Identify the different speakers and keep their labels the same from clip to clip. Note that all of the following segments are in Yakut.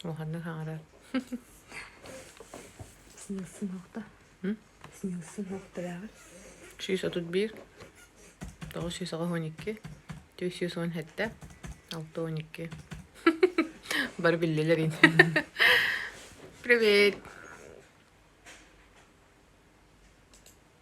Speaker 1: Улаханнык хаҥарар. Снилсин хохто. Снилсин хохтарааҕар. Сүүс отут биир. Тоҕус сүүс аҕыс он икки. Түөрт сүүс он сэттэ. Алта он икки. Бары биллилэр ин. Привет!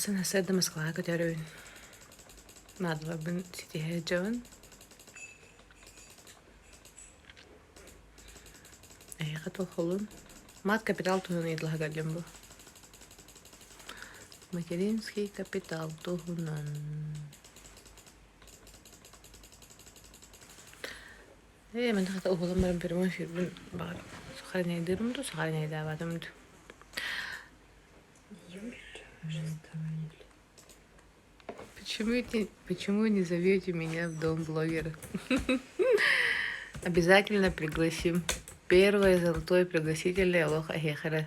Speaker 1: Сына-сыр да Москваҕа көтөрөбүн. Наадаларбын ситиһэ дьон. Эһиэхэ толкуллун. Мат капитал туһунан ыйытылаһа көрдүм бу. Материнский капитал туһунан. Ээ, мин хата уһулан баран көрүмэ сүүрбүн баҕар сохранайдыырым дуу, сохранайдаабатым дуу. Почему ты, почему не зовете меня в дом блогера? Обязательно пригласим. Первое золотое пригласителя Лоха Хехера.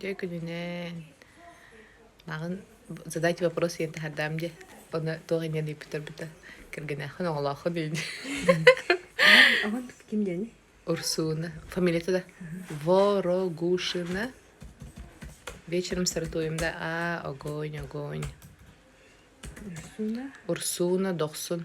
Speaker 1: Дьэ күнүнэн маҕан задать вопрос диэн таһардаам дьэ ону туох инэн ыыппыт турбута кэргэнээххин оҕолооххун диэн Оҕон ким диэни? Урсуна фамилията да Ворогушина вечером саратуем да а огонь огонь Урсуна? Урсуна дохсун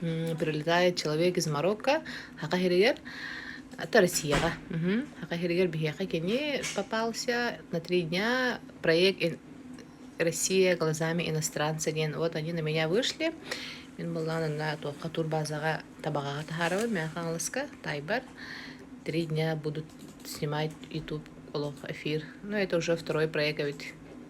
Speaker 1: Прилетает человек из Марокко Саха сиригэр это Россияҕа. Мгм. Саха сиригэр биһиэхэ кини попался на три дня проект ин- Россия глазами иностранца диэн вот они на меня вышли. Мин былаан инна туохха турбазаҕа табаҕаҕа таһаарабын мэ хаҥаласка тайбар три дня будут снимать YouTube олох эфир. Ну это уже второй проект эбит.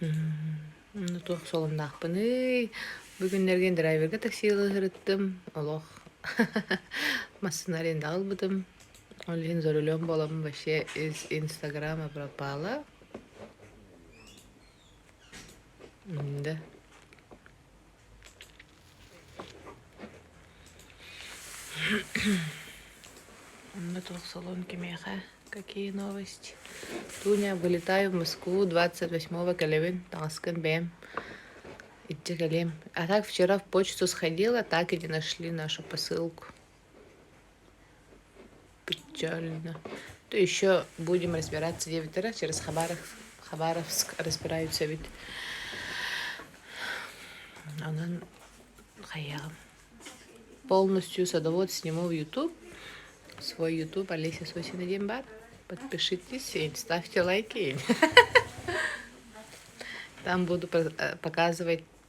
Speaker 1: Ну туох солумнаахпыный? Бу күннэргэ драйверга такси ылыһырыттым. Олох массыына арендаҕа ылбытым. Ол иһин за рулем буолабын вообще из инстаграма пропала. Мм да. Онно туох салон кимиэхэ? Какие новости? Туня, вылетаю в Москву 28 кэлэбин, таҥаскын бэйэм иччэ кэлиэм. А так вчера в почту сходила, так и не нашли нашу посылку. печально то еще будем разбираться диэбиттэрэ через хабаров хабаровск разбираются эбит онон хайаҕым полностью садовод сниму в ютуб свой ютуб олеся сосина диэн баар подпишитесь и ставьте лайки там буду показывать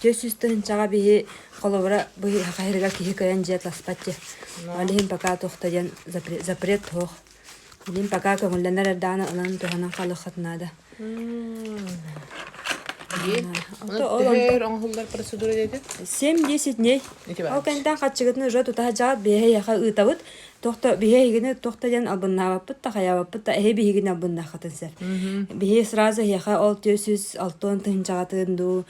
Speaker 1: Түөрт сүүс тыһыынчаҕа биһи холобура быһыыһа хаһыырыгар киһи кыайан дьиэ таспаччы. Ол иһин пока туох да диэн запрет суох. Билим пока көҥүллэнэр эрдэҕинэ ылан туһанан хаалыаххыт наада. Диэн. Ол тыһыыр оҥоһуллар процедура диэтэ? Семь десять дней. Ол кэнтэн хаччыгытын уже тутаһа жаат биһэ яха ыытабыт. Тохто биһэ игини тохто диэн албыннаабаппыт та хаябаппыт та эһи биһигин албыннаахатын сэр. Биһи сразу яха ол 406 тыһынчаҕатын дуу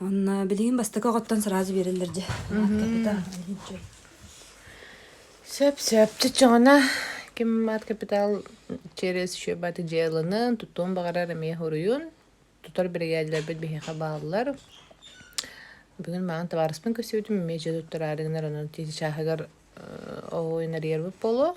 Speaker 1: Онно билигин бастакы оҕоттон сразу биэрэллэр дьэ. Капитал иһинчи. Сөп-сөп. Чыччоҕуна ким аат капитал через шөбаты дьыаланы тутуун баҕарар эмиэ уруйун тутар биригээдэлэрбит биһиэхэ бааллар. Бүгүн мааны табаарыспын көрсүбүтүм эмиэ дьэ туттараары гынар онон тиити чааһыгар оҕу инарийарбыт буолуо.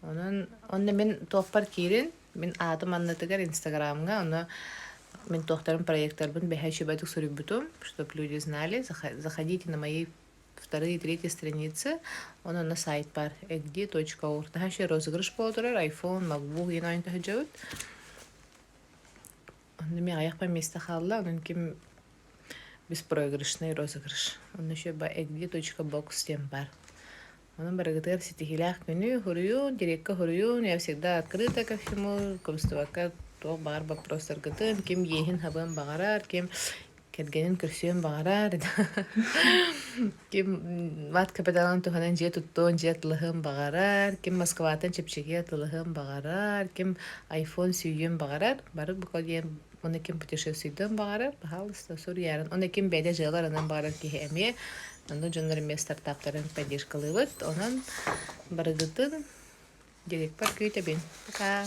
Speaker 1: Онон онно мин туохпар киирин, мин аатым аннытыгар Инстаграмҥа, ону мин туохтарым проектарбын бэһэ үчүгэйдик суруйбутум, чтобы люди знали. Заходите на мои вторые и третьи страницы. Онон сайт бар egdi.org. Наһаа үчүгэй розыгрыш буола турар, iPhone, MacBook иһин ойон тахсыдьыбыт. Онно мин аҕыйахпар места хаалла, онон ким беспроигрышный розыгрыш. Онно еще egdi.box диэн бар. Аны барыгытыгар ситиһиилээх күнү, хоруйун, дирекка хоруйун, я всегда открыта ко всему, кыбыстыбакка туох баҕар боппуруостаргытын, ким иэһин-хабыан баҕарар, ким кэргэнин көрсүөн баҕарар, ким мат капиталын туһанан дьиэ туттуон, дьиэ атылаһыан баҕарар, ким Москваттан чэпчэки атылаһыан баҕарар, ким iPhone сүүйүөн баҕарар, бары бу диэн Оны ким путешествийтен баҕарар, пожалуйста, суруйарын. Оны ким бэйде дьыаларынан баҕарар киһи эмиэ аны дьоннор эмиэ стартаптарын поддержкалыбыт. Онон барыгытын дирекпар күүтэбин. Пока!